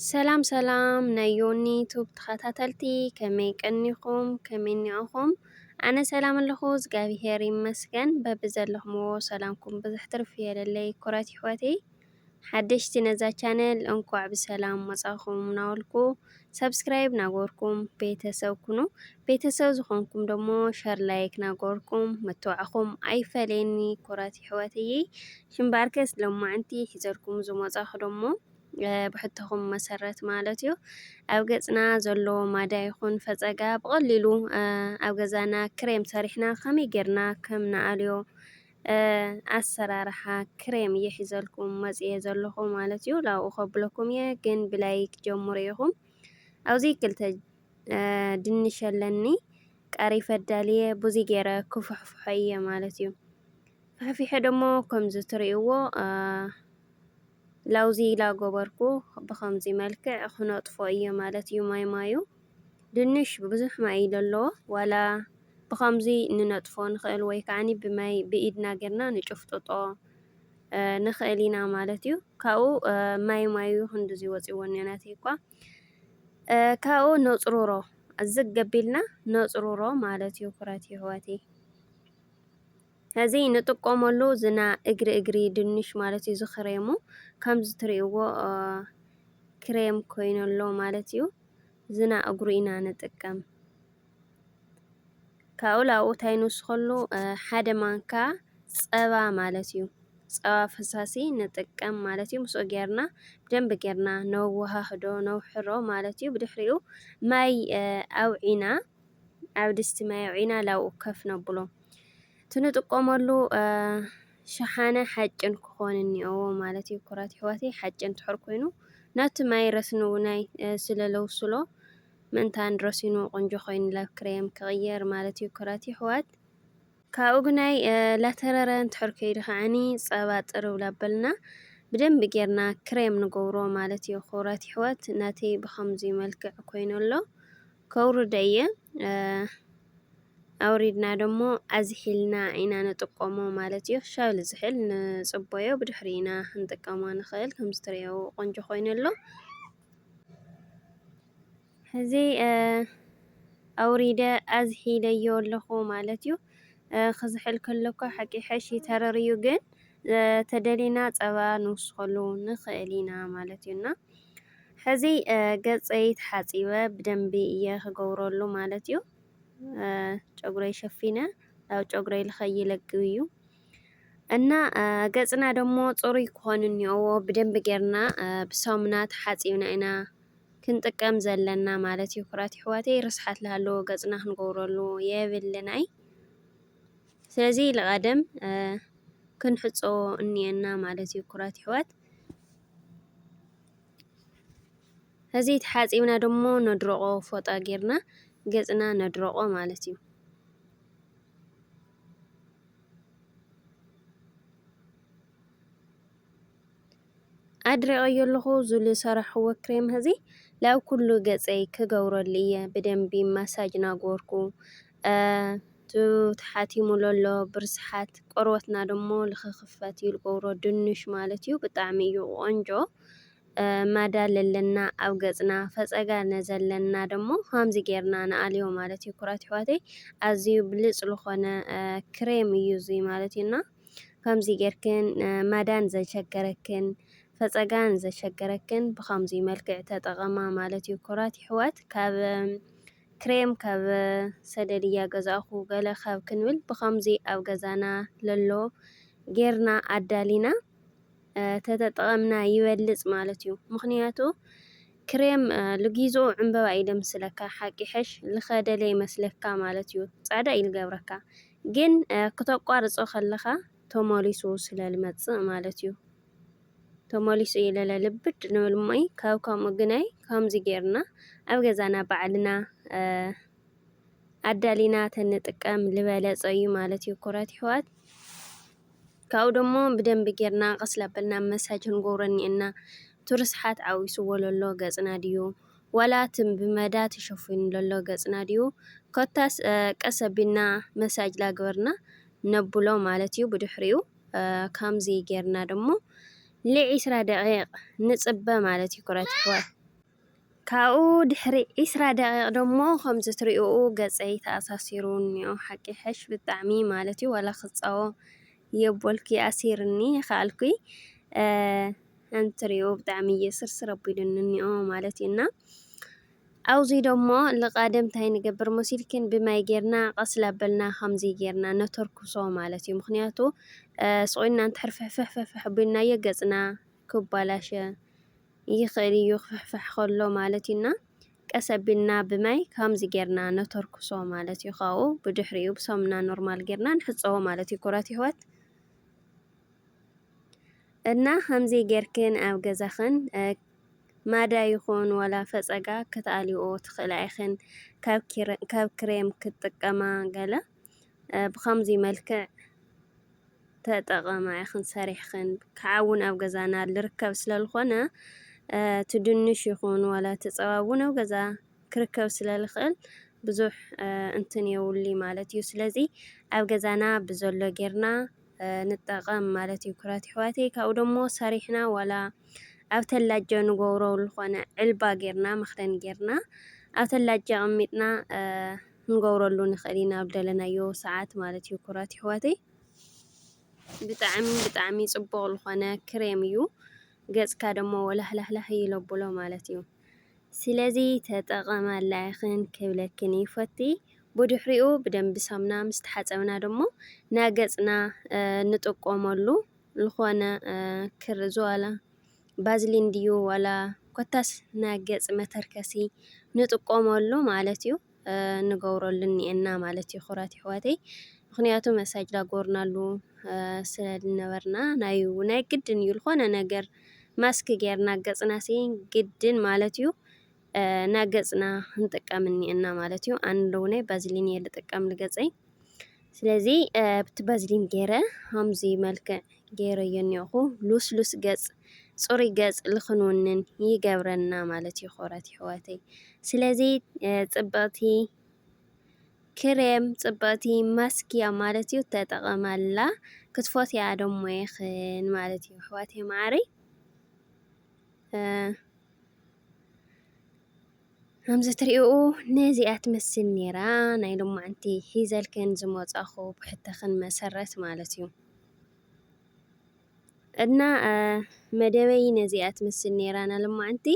ሰላም ሰላም ናይ ዮኒ ቱብ ተኸታተልቲ ከመይ ቀኒኹም ከመይ ኒዕኹም ኣነ ሰላም ኣለኹ እግዚኣብሄር ይመስገን በቢ ዘለኹምዎ ሰላምኩም ብዝሕ ትርፍ የለለይ ኩረት ይሕወተይ ሓደሽቲ ነዛ ቻነል እንኳዕ ብሰላም መጻኹም ናወልኩ ሳብስክራይብ ናገበርኩም ቤተሰብ ኩኑ ቤተሰብ ዝኾንኩም ደሞ ሸር ላይክ ናገበርኩም መተባዕኹም ኣይፈለየኒ ኩራት ይሕዋተይይ ሽምባርከስ ለማዕንቲ ሒዘልኩም ዝመጻኹ ደሞ ብሕቶኹም መሰረት ማለት እዩ ኣብ ገጽና ዘሎ ማዳ ይኹን ፈጸጋ ብቐሊሉ ኣብ ገዛና ክሬም ሰሪሕና ከመይ ጌርና ከም ንኣልዮ ኣሰራርሓ ክሬም እየ ሒዘልኩም መፅየ ዘለኹ ማለት እዩ ላብኡ ከብለኩም እየ ግን ብላይክ ጀምሩ ኢኹም ኣብዚ ክልተ ድንሽ ኣለኒ ቃሪ ፈዳልየ ብዙ ገይረ ክፍሕፍሖ እየ ማለት እዩ ፍሕፊሐ ደሞ ከምዚ ትርእይዎ ላውዚ ላጎበርኩ ብከምዚ መልክዕ ክነጥፎ እየ ማለት እዩ ማይ ማዩ ድንሽ ብዙሕ ማይ እዩ ለለዎ ዋላ ብኸምዚ ንነጥፎ ንኽእል ወይ ከዓኒ ብማይ ብኢድና ጌርና ንጭፍጥጦ ንኽእል ኢና ማለት እዩ። ካብኡ ማይ ማዩ ክንድዚ ወፂዎ እኒኦናት እኳ ካብኡ ነፅሩሮ ዝግ ገቢልና ነፅሩሮ ማለት እዩ ኩረት ይህወትይ እዚ ንጥቆመሉ ዝና እግሪ እግሪ ድንሽ ማለት እዩ ዝክሬሙ ከምዚ ትሪእዎ ክሬም ኮይኑ ኣሎ ማለት እዩ ዝና እግሩ ኢና ንጥቀም ካብኡ ላብኡ እንታይ ንውስከሉ ሓደ ማንካ ፀባ ማለት እዩ ፀባ ፈሳሲ ንጥቀም ማለት እዩ ምስኡ ጌርና ብደንብ ጌርና ነወሃህዶ ነውሕሮ ማለት እዩ ብድሕሪኡ ማይ ኣውዒና ኣብ ድስቲ ማይ ኣውዒና ላብኡ ከፍ ነብሎ። እቲ ንጥቀመሉ ሸሓነ ሓጭን ክኾን እኒኦዎ ማለት እዩ። ኩራት ይሕዋተይ ሓጭን ትሕር ኮይኑ ናብቲ ማይ ረስኑ ናይ ስለለውስሎ ምእንታን ረሲኑ ቆንጆ ኮይኑ ላብ ክሬም ክቕየር ማለት እዩ። ኩራት ይሕዋት ካብኡ ግናይ ላተረረ እንትሕር ከይዱ ከዓኒ ጸባ ጥርብ ላበልና ብደንብ ጌርና ክሬም ንገብሮ ማለት እዩ። ኩራት ይሕዋት ናተይ ብኸምዚ መልክዕ ኮይኑ ኣሎ። ከውርዶ እየ ኣውሪድና ደሞ ኣዝሒልና ኢና ንጥቀሞ ማለት እዩ ሻው ልዝሕል ንጽቦዮ ብድሕሪ ኢና ክንጥቀሞ ንኽእል ከምዚ ትርእዮ ቆንጆ ኮይኑ ኣሎ ሕዚ ኣውሪደ ኣዝሒለዮ ኣለኹ ማለት እዩ። ክዝሕል ከለኳ ሓቂ ሕሽ ይተረርዩ ግን ተደሊና ፀባ ንውስኸሉ ንኽእል ኢና ማለት እዩና ሕዚ ገፀይ ተሓፂበ ብደንቢ እየ ክገብረሉ ማለት እዩ። ጨጉረይ ሸፊነ ያው ጨጉረይ ልኸይለግብ እዩ እና ገፅና ደግሞ ፅሩይ ክኾን እኒኦዎ ብደንቢ ጌርና ብሳሙና ተሓፂብና ኢና ክንጥቀም ዘለና ማለት እዩ። ኩራት ይሕዋተይ ርስሓት ልሃለዎ ገፅና ክንገብረሉ የብልን ኣይ ስለዚ ልቐደም ክንሕፀዎ እኒኤና ማለት እዩ ኩራት ይሕዋት። እዚ ተሓጺብና ደሞ ነድርቖ ፎጣ ጌርና ገጽና ነድርቖ ማለት እዩ። ኣድሪቐዮ ኣለኹ እዚ ዝሰራሕክዎ ክሬም እዚ ላብ ኩሉ ገጸይ ክገብረሉ እየ ብደንቢ ማሳጅ እናገበርኩ። እቱ ተሓቲሙ ለሎ ብርስሓት ቆርበትና ደሞ ልክክፈት ይልገብሮ ድንሽ ማለት እዩ ብጣዕሚ እዩ ቆንጆ ማዳ ለለና ኣብ ገፅና ፈፀጋ ነዘለና ደሞ ሃምዚ ጌርና ንኣልዮ ማለት እዩ ኩራት ይሕዋተይ ኣዝዩ ብልፅ ልኾነ ክሬም እዩ እዙይ ማለት እዩና ከምዚ ጌርክን ማዳን ዘሸገረክን ፈፀጋን ዘሸገረክን ብከምዚ መልክዕ ተጠቐማ ማለት እዩ ኩራት ይሕዋት ካብ ክሬም ካብ ሰደልያ ገዛእኩ ገለ ካብ ክንብል ብከምዚ ኣብ ገዛና ለሎ ጌርና ኣዳሊና ተተጠቐምና ይበልጽ ማለት እዩ ምክንያቱ ክሬም ልጊዝኡ ዕምበባ እዩ ደምስለካ ሓቂ ሕሽ ልኸደለ ይመስለካ ማለት እዩ ጻዕዳ እዩ ልገብረካ ግን ክተቋርጾ ከለኻ ተመሊሱ ስለልመጽእ ማለት እዩ። ተመሊሱ እዩ ለለ ልብድ ንብል እሞይ ካብ ከምኡ ግናይ ከምዚ ጌርና ኣብ ገዛና ባዕልና ኣዳሊና ተንጥቀም ልበለጸ እዩ ማለት እዩ ኩራት ይሕዋት ካብኡ ደሞ ብደንቢ ጌርና ቀስላበልና መሳጅ ክንገብረኒ እና ትርስሓት ዓዊስዎ ለሎ ገጽና ድዩ ዋላ ትም ብመዳ ተሸፊኑ ለሎ ገጽና ድዩ ኮታስ ቀሰቢና መሳጅ ላግበርና ነብሎ ማለት እዩ ብድሕሪኡ ከምዚ ጌርና ደሞ ል ዕስራ ደቂቅ ንጽበ ማለት እዩ ኩረት ይሕዋት። ካብኡ ድሕሪ ዕስራ ደቂቅ ደሞ ከምዚ ትሪኡኡ ገጸይ ተኣሳሲሩ እንኦ ሓቂ ይሐሽ ብጣዕሚ ማለት እዩ ዋላ ክጻወ የቦልኪ ኣሲርኒ ይካኣልኩ ከምቲ ትሪኡ ብጣዕሚ እየ ስርስር ኣቢሉኒ እንኦ ማለት እዩ እና ኣውዚ ደሞ ልቓደም ታይ ንገብር ሞሲልኪን ብማይ ጌርና ቐስ ላበልና ኸምዚ ጌርና ነተርኩሶ ማለት እዩ ምኽንያቱ ስቑልና እንተሕር ፍሕፍሕፍሕፍሕ ቢልናዮ ገፅና ክባላሸ ይኽእል እዩ ክፍሕፍሕ ከሎ ማለት እዩና ቀስ ኣቢልና ብማይ ከምዚ ጌርና ነተርኩሶ ማለት እዩ ካብኡ ብድሕሪኡ ብሳሙና ኖርማል ጌርና ንሕፀቦ ማለት እዩ ኩራት ይሕወት እና ከምዚ ጌርክን ኣብ ገዛኽን ማዳ ይኹን ዋላ ፈጸጋ ክትኣልይኦ ትኽእላ ኢኽን ካብ ክሬም ክትጥቀማ ገለ ብኸምዚ መልክዕ ተጠቐማ ኢኽን ሰሪሕኽን ክዓ ውን ኣብ ገዛና ልርከብ ስለልኾነ እቲ ድንሽ ይኹን ዋላ እቲ ጸባ ውን ኣብ ገዛ ክርከብ ስለልኽእል ብዙሕ እንትን የውሉይ ማለት እዩ ስለዚ ኣብ ገዛና ብዘሎ ጌርና ንጠቀም ማለት እዩ ኩራት ይሕዋተይ ካብኡ ደሞ ሰሪሕና ዋላ ኣብ ተላጃ ንገብሮ ዝኾነ ዕልባ ጌርና መኽደን ጌርና ኣብ ተላጃ ኣቀሚጥና ክንገብረሉ ንኽእል ኢና ኣብ ደለናዮ ሰዓት ማለት እዩ ኩራት ይሕዋተይ ብጣዕሚ ብጣዕሚ ጽቡቕ ዝኾነ ክሬም እዩ ገጽካ ደሞ ወላህላህላህ ይለብሎ ማለት እዩ። ስለዚ ተጠቐማላ ኢኽን ክብለክን ይፈቲ። ብድሕሪኡ ብደንቢ ሳሙና ምስ ተሓጸብና ደሞ ናገጽና ንጥቀመሉ ዝኾነ ክር ዝዋላ ባዝሊን ድዩ ዋላ ኮታስ ናገጽ መተርከሲ ንጥቀመሉ ማለት እዩ። ንገብረሉ እኒኤና ማለት እዩ ክብራት ይሕዋተይ ምክንያቱ መሳጅ ዳጎርናሉ ስለ ዝነበርና ናዩ ናይ ግድን እዩ ልኾነ ነገር ማስክ ጌርና ገጽና ሲ ግድን ማለት እዩ ናገጽና ንጥቀም እኒኤና ማለት እዩ ኣንለውነይ ባዝሊን እየ ልጥቀም ልገጸይ ስለዚ ብቲ በዝሊን ገይረ ከምዚ መልክዕ ገይረዮ እኒኦኹ ሉስሉስ ገፅ ፅሩይ ገፅ ልኽንውንን ይገብረና ማለት እዩ ክብረት ይሕዋተይ ስለዚ ፅብቕቲ ክሬም ፅብቕቲ ማስኪያ ማለት እዩ ተጠቐማላ ክትፎትያ ደሞ ይኽን ማለት እዩ ኣሕዋተይ ማዕረይ ከምዚ ትሪእኡ ነዚኣ ትመስል ነይራ ናይ ሎማዓንቲ ሒዘልክን ዝመፃኹ ብሕተኽን መሰረት ማለት እዩ እና መደበይ ነዚኣ ትመስል ነይራ ናይ ሎማዓንቲ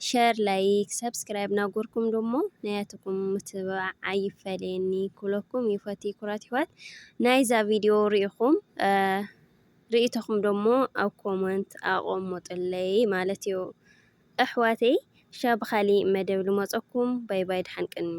ሸር ላይክ ሰብስክራይብ ናጎርኩም ደሞ ናያትኩም ምትብባዕ ኣይፈለየኒ ኩለኩም ይፈቲ ኩራት ይሕዋት ናይዛ ቪድዮ ሪኢኹም ርእቶኹም ደሞ ኣብ ኮመንት ኣቐምጡለይ ማለት እዩ ኣሕዋተይ ክሻ ብካሊእ መደብ ልመፀኩም ባይ ባይ ድሓን ቅንዩ።